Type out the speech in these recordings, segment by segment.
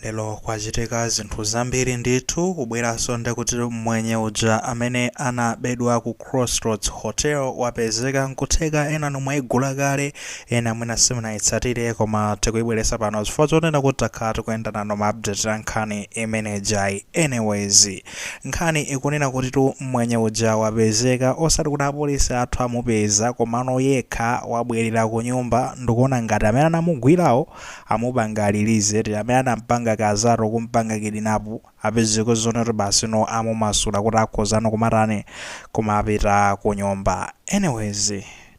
Lero kwachitika zinthu zambiri ndithu, kubweranso ndekuti mmwenye uja amene anabedwa ku Crossroads Hotel wapezeka nkutheka enanu mwaigula kale, ena mwina simunaitsatire koma tikuibweretsa pano chifukwa chonena kuti takhala tikuyenda nayo ma update a nkhani imene ijayi. Anyways, nkhani ikunena kutitu mmwenye uja wapezeka osati kuti apolisi athu amupeza komano yekha wabwerera kunyumba, ndikuona ngati amene anamugwirawo, amupanga release eti, amene anampanga kazaro kumpanga kidnap apeza ngati zoona kuti basi no amumasula kuti akhoza no kumatani kumapita kunyumba anyways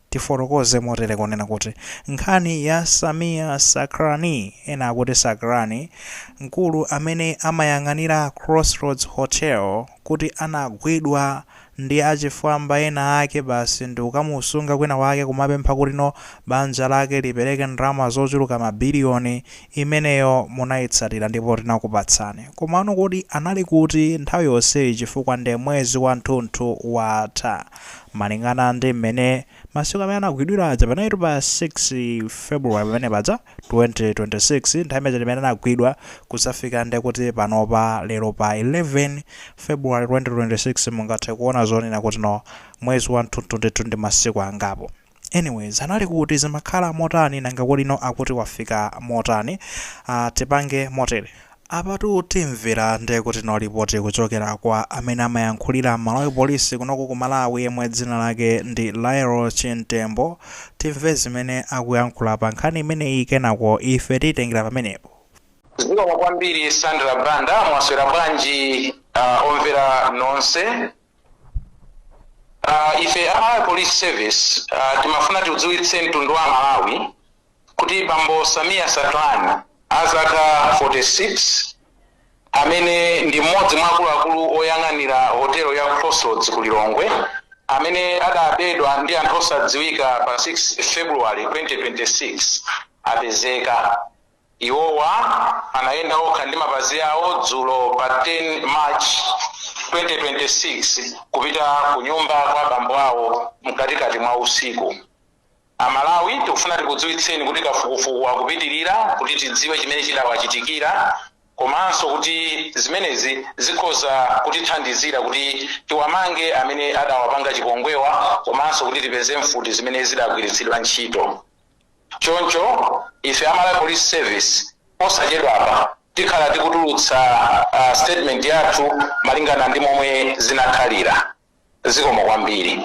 tifotokoze motere kunena kuti nkhani ya Sameer Sacranie ena akuti Sacranie mkulu amene amayang'anira Crossroads Hotel kuti anagwidwa ndi achifwamba ena ake basi ndikukamusunga kwinakwake kumapempha kuti no banja lake lipereke ndalama zochuluka ma billion, imeneyo munaitsatira ndipo tinakupatsani. Komano kodi anali kuti nthawi yonseyi chifukwa nde mwezi wanthunthu watha. Malingana ndi mmene masiku amene anagwidwira aja panalitu pa 6 February pamene paja. 2026 nthawi imene imene anagwidwa kudzafika ndekuti panopa lero pa 11 February 2026 mungathe kuona zonena kuti no mwezi wa thunthu ndithu ndi masiku angapo anyways anali kuti zimakhala motani nanga kodi no akuti wafika motani uh, tipange motere Apatu timvera nde kuti no report kuchokera kwa amene amayankhulira Malawi Police kunoku ku Malawi yemwe dzina lake ndi Lael Chimtembo timve zimene akuyankhula pa nkhani imeneyi kenako ife tiyitengera pamenepo. Zikomo kwambiri Sandra Banda mwaswera bwanji omvera nonse Ife a Malawi Police Service timafuna tiudziwitse mtundu wa aMalawi kuti bambo Sameer Sacranie a zaka 46 amene ndi mmodzi mwa akuluakulu oyang'anira hotelo ya Crossroads ku Lilongwe amene adabedwa ndi anthu osadziwika pa 6 February 2026 apezeka. Iwowa anayenda okha ndi mapazi awo dzulo pa 10 March 2026 kupita ku nyumba kwa bambo awo mkatikati mwa usiku. A Malawi tikufuna tikudziwitseni kuti kafukufuku akupitilira kuti tidziwe chimene chidawachitikira komanso kuti zimenezi zikhoza kutithandizira kuti tiwamange amene adawapanga chipongwewa komanso kuti tipeze mfuti zimene zidagwiritsidwa ntchito. Choncho ife a Malawi Police Service posachedwapa tikhala tikutulutsa statement yathu malingana ndi momwe zinakhalira. zikomo kwambiri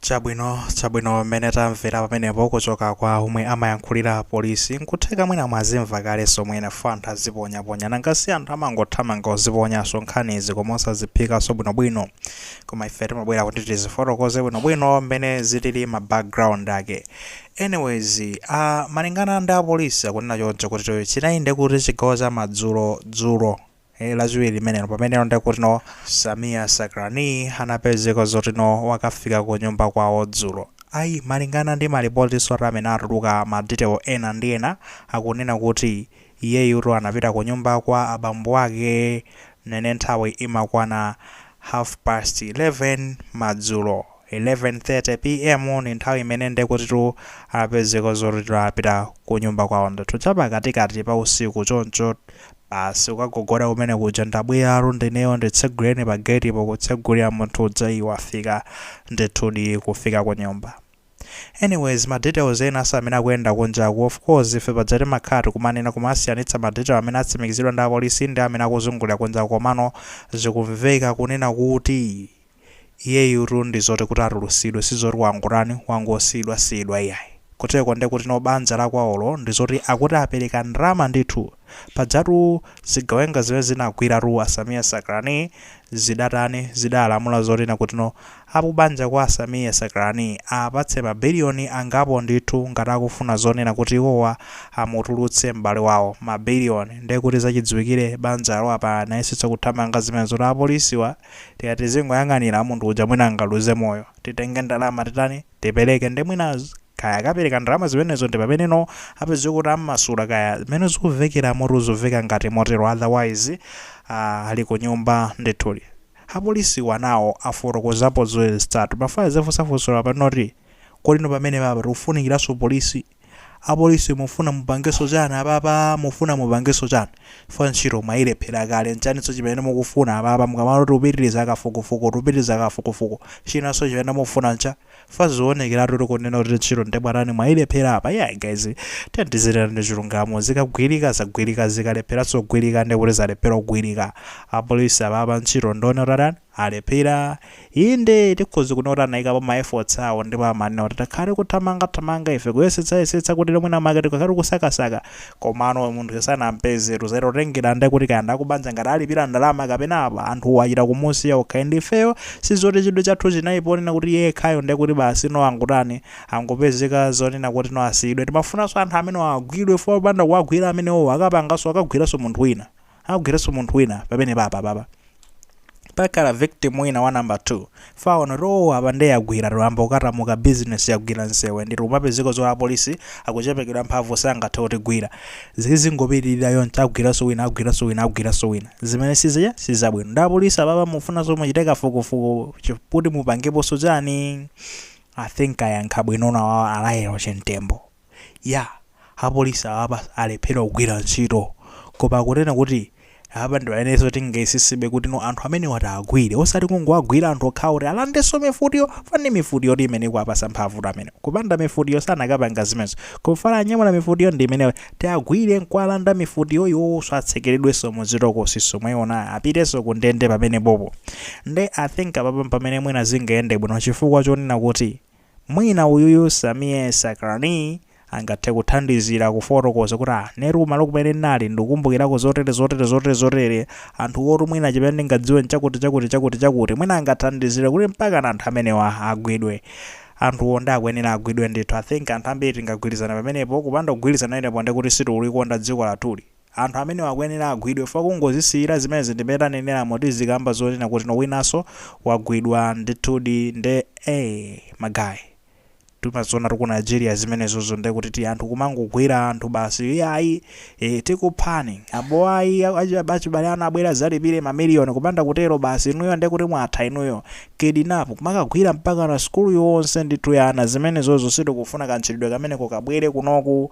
chabwino chabwino mmene tamvera pamenepo kuchoka kwa omwe amayankhulira apolisi nkutheka mwina mwazimva kale somwe enafe anthu aziponyaponya nanga si anthu amangothamanga kuziponyaso nkhanizi koma osaziphikaso bwinobwino koma ife timabwera kuti tizifotokoze bwinobwino mmene zilili ma background ake anyways uh, malingana ndi apolisi akunena choncho kuti chinai nde kuti chigawo cha madzulo dzulo e lachiwiri limenelo pameneno nde kuti no Sameer Sakrani anapezeka zoti no wakafika ku nyumba kwawo dzulo ayi malingana ndi malipotiso ati amene atuluka ma detail ena ndi ena akunena kuti iyeyutu anapita ku nyumba kwa abambo ake mene nthawi imakwana half past 11 madzulo. 11:30 PM ndi nthawi imene nde kutitu apezeka zoti no apita kunyumba kwawo ndithu chapakatikati pa usiku choncho basi kukagogoda kumene kuja ndabweratu ndineyo nditsegulireni pa gate po kutsegulira munthu uja iyi wafika ndithudi kufika ku nyumba anyways ma details ena asa amene akuyenda kunjaku of course ife paja timakhala tikumanena kumasiyanitsa ma detail amene atsimikizidwa ndi apolisi ndi amene akuzungulira kunjaku komano zikumveka kunena kuti Iyeyutu ndi zoti kuti atulusidwe sizoti wangotani, wangosiyidwa siyidwa iyayi. Kuteroko nde kuti no banja la kwawolo ndi zoti akuti apeleka ndalama ndithu. Pajatu zigawenga zimene zinagwiratu a Sameer Sakrani zidatani, zidalamula zonena kuti no aku banja kwa a Sameer Sakrani apatse ma billion angapo ndithu ngati akufuna zonena kuti iwowa amutulutse m'bale wawo. Ma billion. Nde kuti zachidziwikire banjalo apa anayesetsa kuthamanga zimene zoti apolisiwa. tikati tizingoyang'anira munthu uja mwina angaluze moyo. Titenge ndalama titani? Tipereke nde mwina kaya akapereka ndalama zimenezo ndi pameneno apezeka kuti ammasula kaya zimene zikuvekeramotu zuveka ngati motero otherwise aah ali kunyumba ndithudi. Apolisiwa nawo afotokozapo zoyesetsatu. Timafuna tizifunsa funso lapa noti, Kodi inu pamenepapa akufunikiranso polisi? Apolisi mufuna mupangeso chani apapa mufuna mupangeso chani chifukwa ntchito mwayilephela kale nchaninso chimene mukufuna apapa mukamati tupitiliza kafukufuku tupitiliza kafukufuku chinanso chimene mufuna nchani chifukwa ziwonekelatu kunena kuti ntchito nde mwatani mwayilephela apa iyayi guys tiyeni tizinena chilungamo zikagwilika zagwilika zikalephelanso kugwilika ndekuti zalephela kugwilika apolisi apapa ntchito nde mwatani alephera. Inde, tikhoza kunena kuti anaikapo ma efforts awo ndipo amanena kuti takhala tikuthamanga thamanga ife, kuyesetsa yesetsa kuti mwina mwake tikakhala tikusakasaka komano munthuyo sanampezetu. Zatengera nde kuti kaya ndi akubanja ngati alipira ndalama kapena apa anthuwo achita kumusiya okay ndi ifeyo sizoti chidwi chathu chinali ponena kuti iye yekhayo nde kuti basi no angotani angopezeka zonena kuti no asiyidwe. Timafunanso anthu amenewa agwidwe chifukwa popanda kuwagwira amenewo akapanganso akagwiranso munthu wina. agwiranso munthu wina pamenepapa apapa pakhala victim wina wa number 2 faona row apa nde yagwira apa ukadzamuka business yagwira nsewe ndiri kumapezeka zoti apolisi akuchepekedwa mphamvu sangathe kutigwira zizingopitirira yonse agwiranso wina agwiranso wina agwiranso wina zimene zija sizabwino ndi apolisi apapa akufunikanso muchite kafukufuku chi- kuti mupangeponso chani i think ayankhaba bwino nawo alayero che Mtembo Yeah apolisi apapa alephera kugwira ntchito koma kunena kuti Apa ndi pamenenso tingayesesebe kuti no anthu amenewa tiwagwire osati kungowagwira anthu okhawo kuti alandenso mifutiyo chifukwa ndi mifutiyo imene ikuwapasa mphamvutu amenewa kupanda mifutiyo sanakapanga zimenezo koma chifukwa anyamula mifutiyo ndi imeneyo tiwagwire nkuwalanda mifutiyo iwowonso atsekeredwenso muzitokosizo mwayiona apitenso ku ndende pamenepopo nde I think apapa mpamene mwina zingayende bwino chifukwa chonena kuti Mwina uyuyu Sameer Sacranie angathe kuthandizira kufotokoza kuti ah, inetu kumalo kumene ndinali ndikukumbukirako zotere zotere zotere zotere, anthuwotu mwina chimene ndingadziwe nchakuti chakuti chakuti chakuti, mwina angathandizire kuti mpakana anthu amenewa agwidwe. Anthuwo nde akuyenera agwidwe ndithu. I think anthu ambiri tingagwirizane pamenepo, kupanda kugwirizana pamenepo ndekuti sitikulikonda dziko lathuli. Anthu amenewa akuyenera agwidwe chifukwa kungozisiyira zimenezi ndi mmene taneneramo tizikamba zonena kuti no winanso wagwidwa ndithudi nde ee magaye timazionatu ku Nigeria zimenezozo nde kuti ti anthu kumangogwira anthu basi iyayi ee tikuphani apo ayi achibale anu abwere azalipire ma million kupanda kutero basi inuyo nde kuti mwatha inuyo kidnap kumakagwira mpakana school yonse ndithu ya ana zimenezozo sitikufuna kantchitidwe kameneko kabwere kunoku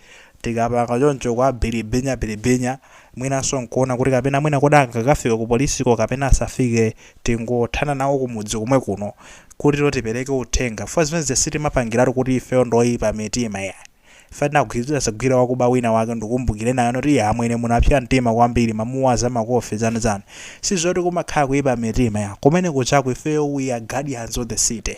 Tikapanga choncho kuwabilibinyabilibinya, mwinanso nkuona kuti kapena mwina kodi angakafike ku polisiko kapena asafike, tingothana nawo kumudzi komwe kuno kuti no tipereke uthenga chifukwa zimene zija sitimapangiratu kuti ifeyo ndi oyipa mitima iyayi. Ife tinagwira tidadzagwira wakuba wina wake ndikukumbukira ena anati iya amwene munapsa mtima kwambiri munamuwaza makofi zanizani. Sizoti kumakhala kuyipa mitima iyayi. Kumene kujaku ifeyo we are guardians of the city.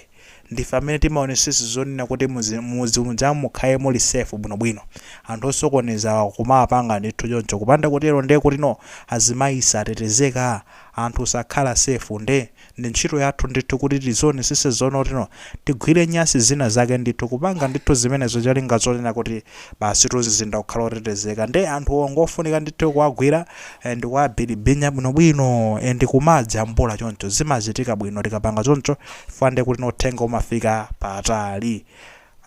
Ndife amene timaonesetsa zonena kuti muzi mudzi mujamu mukhale muli safe bwino bwino. Anthu osokonezawa kumawapanga ndithu choncho kupanda kutero nde kuti no azimayi satetezeka? Anthu sakhala safe nde ndi ntchito yathu ndithu kuti tizionesesa zonena kuti no tigwire nyasi zina zake ndithu kupanga ndithu zimenezo cholinga zonena kuti basi mzinda kukhala otetezeka nde anthuwo ngofunika ndithu kuwagwira eh, ndi kuwabilibinya bwinobwino eh, ndi kumadzijambula choncho zimachitika bwino tikapanga choncho chifukwa nde kuti no uthenga umafika patali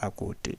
akuti